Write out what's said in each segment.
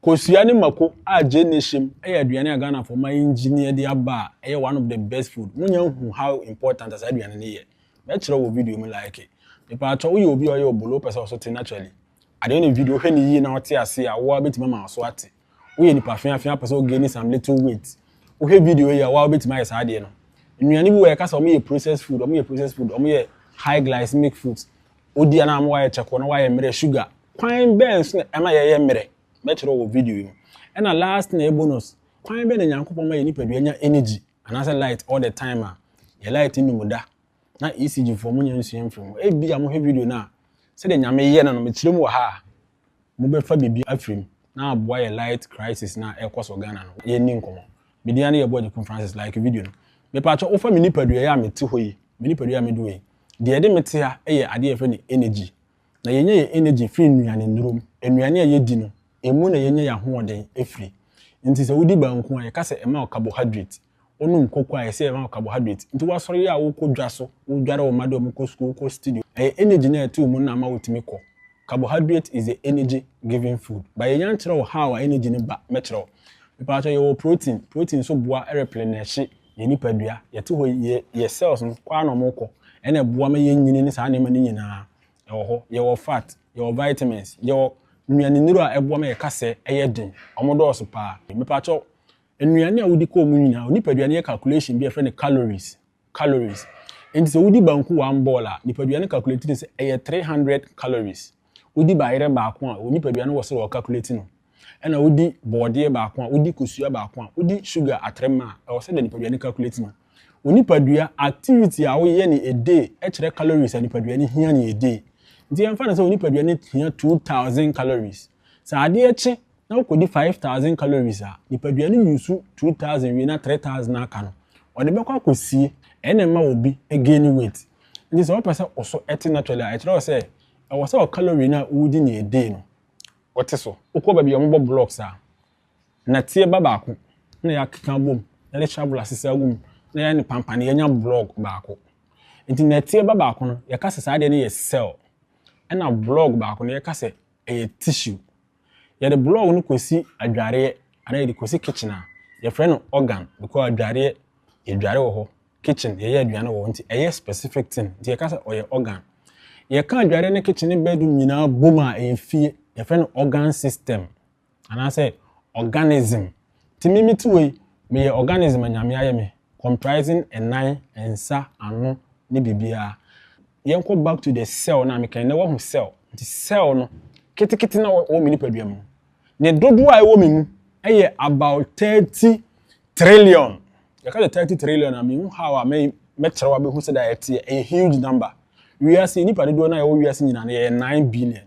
Kosua ne mako a gyeene hyem yɛ aduane a Ghana foɔ ma engineer de aba a ɛyɛ one of the best food mo nya nhu how important a saa aduane no yɛ mɛ kyerɛ wɔ video mu like mepaatɔ wo yɛ obi a ɔyɛ obolo wo pɛ sɛ wo so te naturally ade wo ne video hwɛ ne yie na wo te aseɛ a wo a bɛtumi ama wo so ate wo yɛ nipa fea fea pɛ sɛ wo gaini some little weight wo hwɛ video yi a wo a wobɛtumi ayɛ saa adeɛ no nnuane bi wɔ yɛ ka sɛ wɔn yɛ processed food wɔn yɛ processed food wɔn yɛ high glycemic foods Wodua no ama wayɛ kyɛkoo na wayɛ mmerɛ sugar. Kwan bɛn so na ɛma yɛyɛ mmerɛ? Mɛkyerɛ wɔ video yi mu. Ɛna last na ɛyɛ bonus, kwan bɛn na Nyankopɔn ma yɛn nipadua nya energy anaasɛ light all the time a? Yɛn light nnum da. Na ECG foɔ monyɛ nsua mfiri ho. Ebia mohwɛ video no a, sɛdeɛ Nyame yɛ no no mekyerɛ mu wɔ ha a, Mobɛfa biribi afiri mu na aboa yɛ light crisis no a ɛrekɔ so wɔ Ghana no. Yɛnni nkɔmmɔ. Me din ara ne Yɛboa Agyekum Francis. Like video no. Mepaakyɛw wofa me nipadua yi a mete hɔ yi, me nipadua yi a mede wɔ yi. Deɛ ɛde me te ha yɛ adeɛ a yɛfrɛ no energy. Na yɛnya yɛn energy firi nnuanennuro mu. Nnuane a yɛdi no, ɛmu na yɛnya yɛn ahoɔden firi. Nti sɛ wodi banku a, yɛka sɛ ɛma wo carbohydrate. Wonom koko a ɛsɛ ɛma wo carbohydrate. Nti woasɔre yɛ a wokɔ dwa so, wodware wo mma de wɔn kɔ sukuu, wokɔ studio. Ɛyɛ energy no a ɛte wo mu no na ama wotumi kɔ. Carbohydrate is the energy giving food. But yɛn yan kyerɛ wo how a energy no ba. Mɛkyerɛ wo. Mepaatɔ yɛwɔ protein. Protein nso boa replenish yɛn nipadua. Yɛte hɔ yi, yɛ cells no kɔ ara na wɔn kɔ. Ɛna ɛboa ma yɛn nyini ne saa nneɛma no nyinaa ɛwɔ hɔ. Yɛwɔ fat, yɛwɔ vitamins, yɛwɔ nnuane nnuro a ɛboa ma yɛ kasɛ ɛyɛ den. Wɔn dɔɔso paa. Mepaatɔ Nnuane a wodi kɔɔ mu nyinaa, wo nipadua no yɛ calculation bi a yɛfrɛ no calories, calories. Enti sɛ wodi banku one ball a, nipadua no calculate no sɛ ɛyɛ 300 calories. Wodi bayerɛ baako a, wo nipadua no wɔ sɛ wɔ calculate no. Ɛna wodi bɔɔdeɛ baako a, wodi kosua baako a, wodi sugar atrem a, ɛwɔ sɛ deɛ nipadua no calculate no. Wo nipadua, activity a woyɛ ne a day kyerɛ calories a nipadua no hia ne a day. Nti yɛmfa no sɛ wo nipadua no hia 2000 calories. Sɛ adeɛ kye na wokɔdi five thousand calories a, nipadua no use two thousand wie na three thousand aka no, ɔde bɛkɔ akɔsie, ɛno na ɛma obi gaini weight. Nti sɛ wopɛ sɛ wo so te naturally a, ɛkyerɛ sɛ ɛwɔ sɛ wo calorie no a wodi no a day no, wote so. Wokɔ baabi a wɔbɔ blocks a, nnɛteɛ ba baako na yɛakeka abɔ mu, yɛde shovel asesa agu mu na yɛayɛ no pampan, yɛanya block baako. Nti nnɛteɛ ba baako no, yɛka sɛ saa adeɛ no yɛ cell, ɛna block baako no, yɛka sɛ ɛyɛ tissue. Yɛde block no kɔsi adwareɛ anaa yɛde kɔsi kitchen a, yɛfrɛ no organ because adwareɛ yɛdware wɔ hɔ, kitchen yɛyɛ aduane wɔ hɔ nti ɛyɛ specific thing nti yɛka sɛ ɔyɛ organ. Yɛka adwareɛ ne kitchen ne bedroom nyinaa bom a ɛyɛ fie, yɛfrɛ no organ system. anaasɛ organism. Nti me me ti wɔ yi, meyɛ organism a Nyame ayɛ me, comprising ɛnan, nsa, ano, ne biribiara. Yɛnkɔ back to the cell no a mekae na wahu cell. Nti cell no, ketekete na wɔ me nipadua mu. Ne dodoɔ a ɛwɔ me mu ɛyɛ about 30 trillion. Yɛka sɛ 30 trillion a mehu how a mɛkyerɛw abɛhu sɛ da ɛteɛ, ɛyɛ huge number. Wiase, nipa dodoɔ no a ɛwɔ wiase nyinaa no yɛyɛ 9 billion.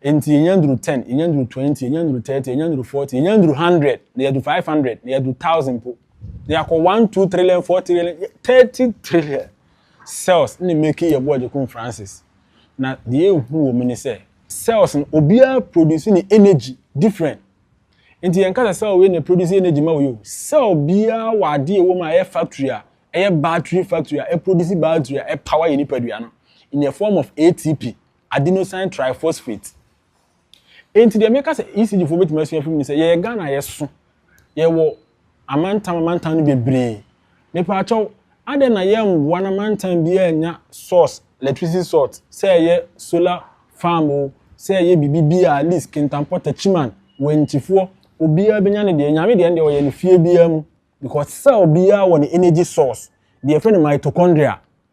Enti yɛnya nduru ten, yɛnya nduru twenty, yɛnya nduru thirty, yɛnya nduru forty, yɛnya nduru hundred, na yɛadu five hundred, na yɛadu thousand mpo. Na yɛakɔ one two trillion, four trillion, thirty trillion cells na meki yɛ boɔ Agyekum Francis. Na deɛ ehu wɔ mu ne sɛ cells no obiara produce ne energy different. Nti yɛn kasa cell wei na produce energy ma wei o. Cell biara wɔ adeɛ ɛwɔ mu a ɛyɛ factory a ɛyɛ battery factory a ɛproduce battery a ɛpower yɛ nipadua no in the form of ATP. adenosine triphosphate. Enti deɛ meka sɛ ECG foɔ bɛtumi asua afiri mu ne sɛ yɛyɛ Ghana yɛso, yɛwɔ amantam amantam no bebree. Mepɛ akyɛw, adɛn na yɛmmoa na mantam biara anya source, electricity source, sɛ ɛyɛ solar farm o, sɛ ɛyɛ biribi bi a at least Kintampo, Techiman, Wankyifoɔ, obiara bɛnya ne deɛ. Nyame deɛ ɛndeɛ ɔyɛ no fie biara mu because cell biara wɔ ne energy source, deɛ yɛfrɛ no mitochondria.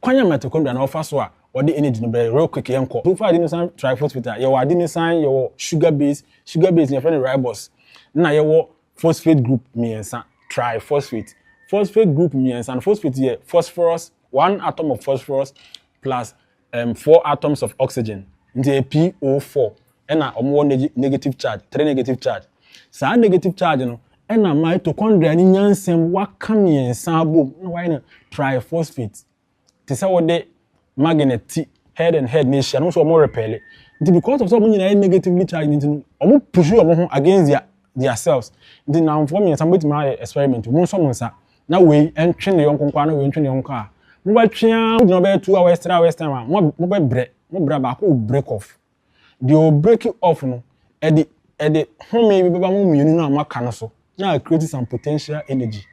Kwan a mitochondria no ɔfa so a ɔde energy no bɛyɛ real quick yɛnkɔ so mfa adenosine triphosphate a yɛwɔ adenosine yɛwɔ sugar base sugar base no yɛfrɛ no ribose na yɛwɔ phosphate group mmiɛnsa triphosphate phosphate group mmiɛnsa no phosphate yɛ phosphorus one atom of phosphorus plus um, four atoms of oxygen nti ɛyɛ PO4 na wɔwɔ neg negative charge, three negative charge. Saa negative charge no na mitochondria no nya nsɛm waka mmiɛnsa abom na wayɛ no triphosphate. Te sɛ wode magnet ti head and head na ahyia no nso wɔn repɛle. Nti because of sɛ wɔn nyinaa yɛ negatively charged nti no, wɔn push wɔn ho against their their selves. Nti nnamfoɔ mmiɛnsa mobɛtumi ayɛ experiment mo nsɔ mo nsa na wei ntwe ne yɔnko nkoa na wei ntwe ne yɔnko a mobɛtwe a mogyina bɛyɛ two hours three hours time a mobɛbrɛ mobra baako will break off Deɛ ɔ break off no, ɛde ɛde home bi bɛba mo mmienu no a mo aka no so na a create some potential energy.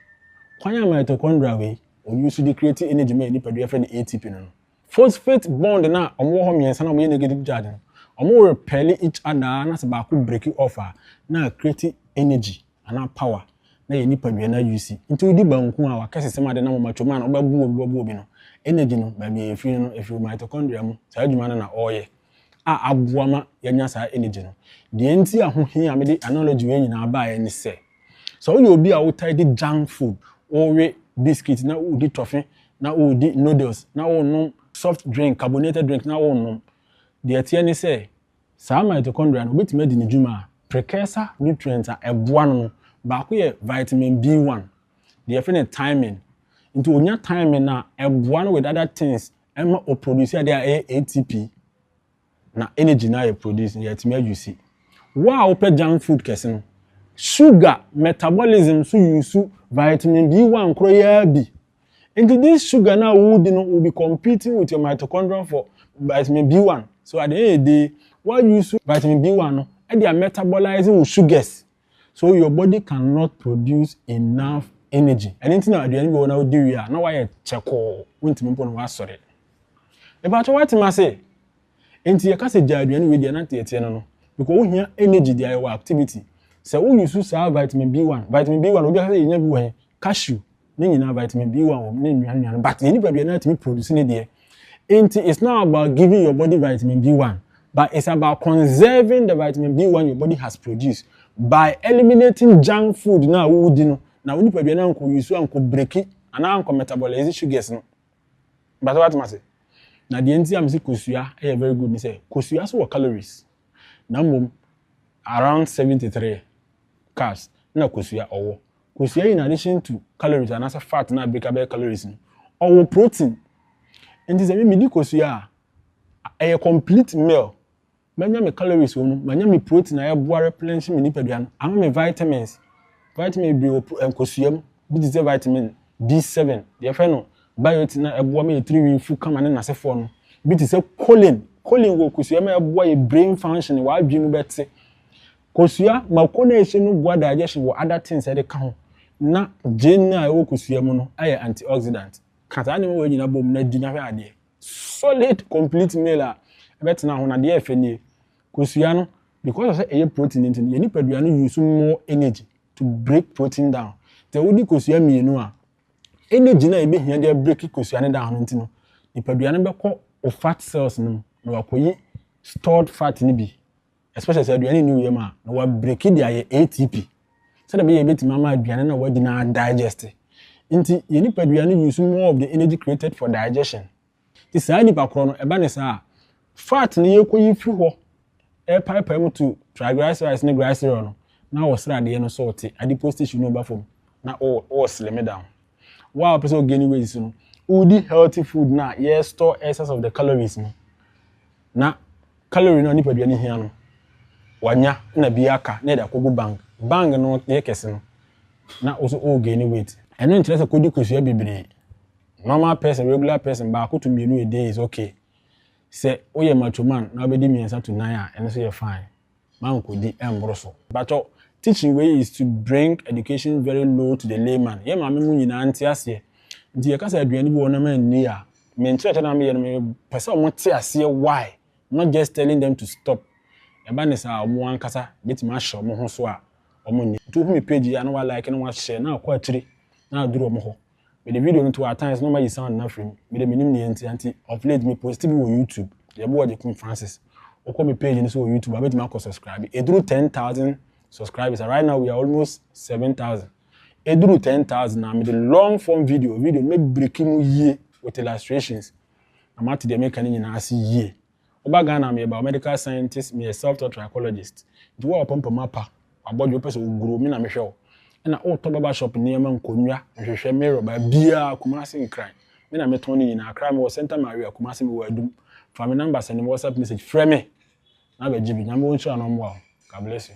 Kwan a mitochondria wei ɔ use de create energy ma yɛn nipadua yɛfrɛ no ATP no no, phosphate bond no a wɔwɔ hɔ mmiɛnsa no a wɔyɛ negative charge no, wɔrepel each other ara na sɛ baako break off a na a create energy. anaa power na yɛ nipadua no ayusi. Nti wodi banku a wɔakɛsesɛm ade na moma twam a na wobɛbow obi w'abow obi no, energy no, baabi a efiri no no, efi wo mitochondria mu, saa adwuma no na ɔreyɛ a aboa ma yɛanya saa energy no. Deɛ nti a ho hia a mede analogy wei nyinaa baeɛ ne sɛ, sɛ woyɛ obi a wotae di junk food, wowe biscuit na wodi tɔfe na wodi noodles na wonom soft drink, carbonated drink na wonom, deɛ ɛteɛ ne sɛ, Saa mitochondria no, obetumi adi ne dwuma a, precursor nutrient a ɛboa no no, baako yɛ vitamin B one, deɛ yɛfrɛ no thymine. Nti onya thymine no a, ɛboa no with other things ɛma o produce adeɛ a ɛyɛ ATP, na energy no a yɛ produce no yɛatumi ayusi. Wo a wopɛ junk food kɛse no, sugar metabolism so yusu vitamin B one korɔ yi ara bi Nti this sugar no a wodi no will be competing with your mitochondrion for vitamin B1. So at the end of the day, wa use vitamin B1 no ɛde a metabolizing wo sugars. So your body cannot produce enough energy. Ɛno nti na aduane bi wɔ na wodi wie a na wayɛ kyɛkɔɔ, wontumi mpo na wasɔre. Mepakyɛ wate ma se? Enti yɛka sɛ gyaa aduane wei deɛ na teɛteɛ no no because wo hia energy deɛ ayɛ wɔ activity. Sɛ wo use saa vitamin B1, vitamin B1 obi aka sɛ yɛnya bi wɔ he? Cashew ne nyinaa vitamin B1 wɔ mu ne nnuane nnuane but yɛn nipadua no atumi produce ne deɛ. Enti it's not about giving your body vitamin B1 but it's about conserving the vitamin B1 your body has produced by eliminating junk food no a wodi no na wo nipadua no ankɔ use ankɔ breaki anaa ankɔ metabolize sugars no. But so watem ase? Na deɛ nti a mese kosua yɛ very good ne sɛ kosua so wɔ calories. Na mmom around 73 carbs na kosua ɔwɔ. Kosua in addition to calories anaasɛ fat na abirika bɛyɛ calories no, ɔwɔ protein. Nti sɛ me medi kosua a, ɛyɛ complete meal Manya me calories wɔ mu, manya me protein a ɛboa replenishing me nipadua no, ama me vitamins, vitamin bebree wɔ pro nkosua mu, bi te sɛ vitamin B seven, deɛ yɛfrɛ no biotin a ɛboa ma yɛn tiri nwi fu kama ne n'asefoɔ no, bi te sɛ choline, choline wɔ kosua mu a ɛboa yɛ brain functioning, w'adwene mu bɛte. Kosua, mako no a ɛhyɛ mu boa digestion wɔ other things a ɛde ka ho, na gyeene a ɛwɔ kosua mu no ayɛ antioxidant. Ka saa nneɛma wei nyinaa bom na di na hwɛ adeɛ. solid complete meal a ɛbɛtena ho na deɛ ɛfɛ nie kosua no because of sɛ ɛyɛ protein nti no yɛn nipadua no use more energy to break protein down sɛ wodi kosua mmienu a energy no a ɛbɛhia de break kosua no down no nti no nipadua no bɛkɔ o fat cells no mu na wakɔyi stored fat no bi especially sɛ aduane nni wo yam a, na wɔabreki de ayɛ ATP sɛdeɛ ɛbɛyɛ ɛbɛtumi ama aduane no a wadi no adigest. Nti, yɛn nipadua no use more of the energy created for digestion. Nti saa nipa korɔ no, ɛba ne saa a, fat no yɛkɔyi firi hɔ ɛrepaepae mu to triglycerides ne glycerol no, na wɔ sradeɛ no so te adipose tissue no ba fam na wɔ slim down. Wo a wopɛ sɛ ɔgani weight so no, wodi healthy food no a yɛrestore excess of the calories no. na calorie no a nipadua no hia no wanya na bi aka na yɛde akɔgu bank bank no yɛ kɛse no na wo so o gain weight ɛno nkyerɛ sɛ kɔdi kosua bebree normal person regular person baako to mmienu a day is okay sɛ woyɛ macho man na wobɛdi mmiɛnsa to nan a ɛno nso yɛ fine mankodi ɛmboro so. Mpakyɛw, teaching wei is to bring education very low to the layman, yɛn maame mu nyinaa nte aseɛ, nti yɛka sɛ aduane bi wɔ hɔ na manni a, me nkyerɛkyerɛ no a meyɛ no mepɛ sɛ wɔn te aseɛ why, not just telling them to stop, ɛba ne saa a wɔn ankasa bɛtumi ahyɛ wɔn ho so a wɔn nni. Nti wohu me page yi a na wa like na wa share na akɔ akyire na aduru wɔn hɔ. Mede video no to at times na mayi sound no afiri mu. Mede menim nea enti, nti of late me posti bi wɔ YouTube, Yɛboa Agyekum Francis. Wokɔ me page no so wɔ YouTube a wobɛtumi akɔ subscribe. Ɛduru ten thousand subscribers a, right now we are almost seven thousand. Ɛduru ten thousand a, mede long form video, video no mɛbreki mu yie with illustrations na moate deɛ meka no nyinaa ase yie. Woba Ghana a meyɛ biomedical scientist, meyɛ self taught trichologist, nti wo a wapɔmpɔ mapa, wabɔdwe wopɛ sɛ oguro me na mehwɛ wo, ɛna wotɔ barber shop nneɛma, nkonnwa, nhwehwɛ, mirror, baabiara, Kumasi Nkran, me na metɔn ne nyinaa, Accra mewɔ Centre Maria, Kumasi mewɔ Adum, fa me number send me WhatsApp message, frɛ me na bɛgye bi, Nyame wɔ nhyira na ɔmmoa wo, God bless you.